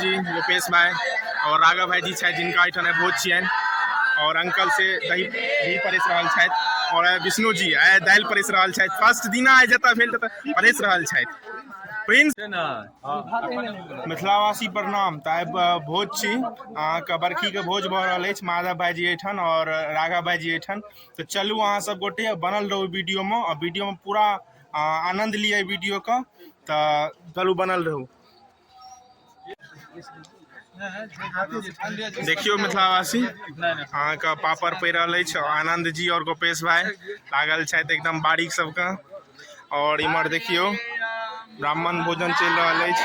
जी रूपेश भाई और राघव भाई जी छे जिनका एठाम बहुत छियन और अंकल से दही दही परेस रहल छथि और विष्णु जी आए दाल परेस रहल छथि फर्स्ट दिना आए जतऽ भेल ततऽ परेस रहल छथि प्रिंस मिथिलावासी प्रणाम तऽ आइ ब- भोज छी अहाँके बरखीके भोज भऽ रहल अछि माधव भाईजी एहिठाम आओर राघव भाईजी एहिठाम तऽ चलू अहाँ सब गोटे बनल रहू वीडियोमे आओर वीडियोमे पूरा आनन्द लिअ एहि वीडियोके तऽ चलू बनल रहू देखियौ मिथिलावासी अहाँके पापड़ पड़ि रहल अछि आनन्द जी आओर गोपेश भाई लागल छथि एकदम बारीक सबके आओर इम्हर देखियौ ब्राह्मण भोजन चलि रहल अछि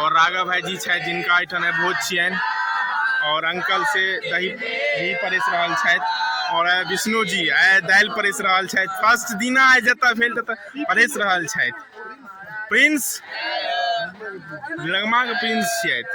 और राघव भाई जी छथि जिनका एहिठाम भोज छियनि और अंकल से दही घी परेस रहल छथि और आइ विष्णु जी आइ दालि परेस रहल छथि फर्स्ट दिना आइ जतऽ भेल ततऽ परेस रहल छथि प्रिंस लगमाके प्रिंस छियथि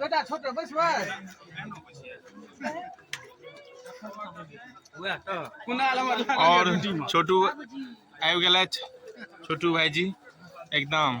बेटा छोट बैसबै और छोटू आबि गेलथि छोटू भाईजी एकदम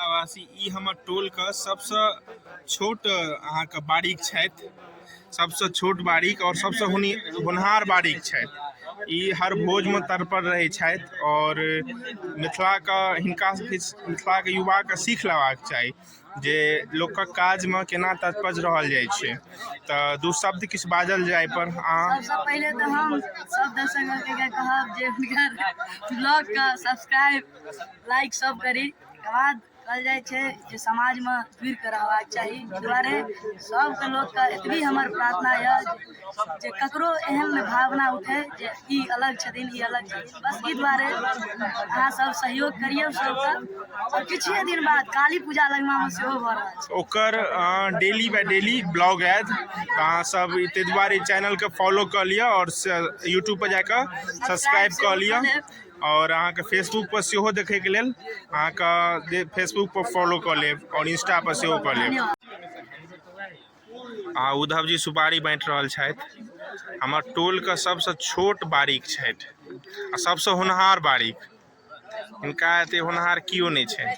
वासी ई हमर टोलके सबसँ छोट अहाँके बारीक छथि सबसँ छोट बारीक आओर सबसँ हुनि होनहार बारीक छथि ई हर भोजमे तत्पर रहै छथि आओर मिथिलाके हिनका सबके मिथिलाके युवाके सीख लेबाक चाही जे लोकक काजमे केना तत्पर रहल जाइ छै तऽ दू शब्द किछु बाजल जाय पर अहाँ सबसँ पहिले तऽ हम सब दर्शक के कहब जे हुनकर ब्लॉग के सब्सक्राइब लाइक सब करी तकर बाद कहल जाइ छै जे समाजमे जुड़ि कऽ रहबाक चाही एहि दुआरे सबके लोकके एतबी हमर प्रार्थना यऽ जे ककरो एहन नहि भावना उठै जे ई अलग छथिन ई अलग छथिन बस ई दुआरे अहाँ सब सहयोग करियौ सबके आओर किछु दिन बाद काली पूजा लगमामे सेहो भऽ रहल छै ओकर डेली बाय डेली ब्लॉग आयत तऽ अहाँ सब ताहि दुआरे चैनलके फॉलो कऽ लिअ आओर यूट्यूब पर जाकऽ सब्सक्राइब कऽ लिअ आओर अहाँके फेसबुक पर सेहो देखैके लेल अहाँके फेसबुक पर फॉलो कऽ लेब आओर इंस्टा पर सेहो कऽ लेब आ उद्धव जी सुपारी बाँटि रहल छथि हमर टोलके सभसँ छोट बारीक छथि आ सभसँ होनहार बारीक हिनका एते होनहार केओ नहि छै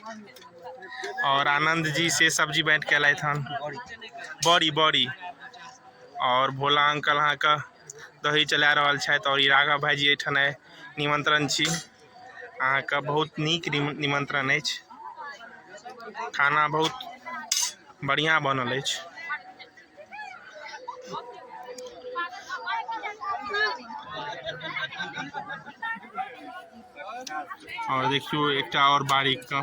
आओर आनन्द जी से सब्जी बाँटि कऽ एलथि हन बड़ी बड़ी आओर भोला अंकल अहाँके दही चला रहल छथि आओर ई राघव भाईजी एहिठाम आइ निमन्त्रण छी अहाँके बहुत नीक निमन्त्रण अछि खाना बहुत बढ़िआँ बनल अछि आओर देखियौ एकटा आओर बारीकके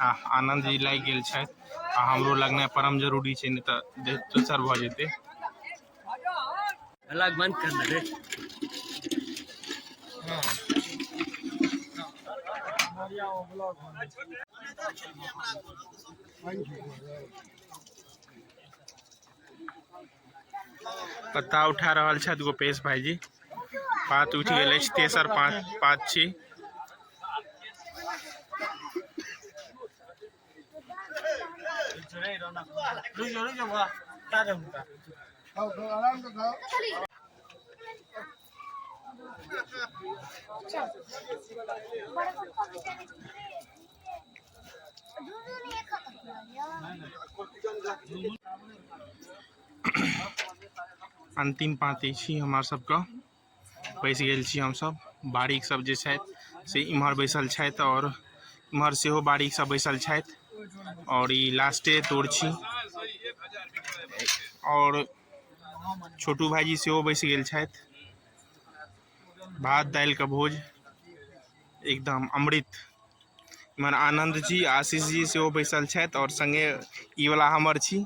आह आनन्द जी लागि गेल छथि आ हमरो लगनाइ परम जरूरी छै नहि तऽ देह दोसर भऽ जेतै अलग बन्द कर ले रे पत्ता उठा रहल छथि गोपेश भाईजी पात उठि गेल अछि तेसर पात पात छी अंतिम पाँति छी हमर सबके बैस गेल छी हमसब बारीक सब जे छथि से इम्हर बैसल छथि आओर इम्हर सेहो बारीक सब बैसल छथि आओर ई लास्टे तोड़ छी आओर छोटू भाईजी सेहो बैस गेल छथि भात दालि के भोज एकदम अमृत इमहर आनंद जी आशीष जी सेहो बैसल छथि और संगे ई वाला हमर छी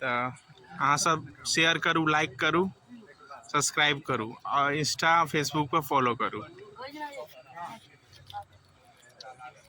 तऽ अहाँ सब शेयर करू लाइक करू सब्सक्राइब करू और इंस्टा फेसबुक पर फॉलो करू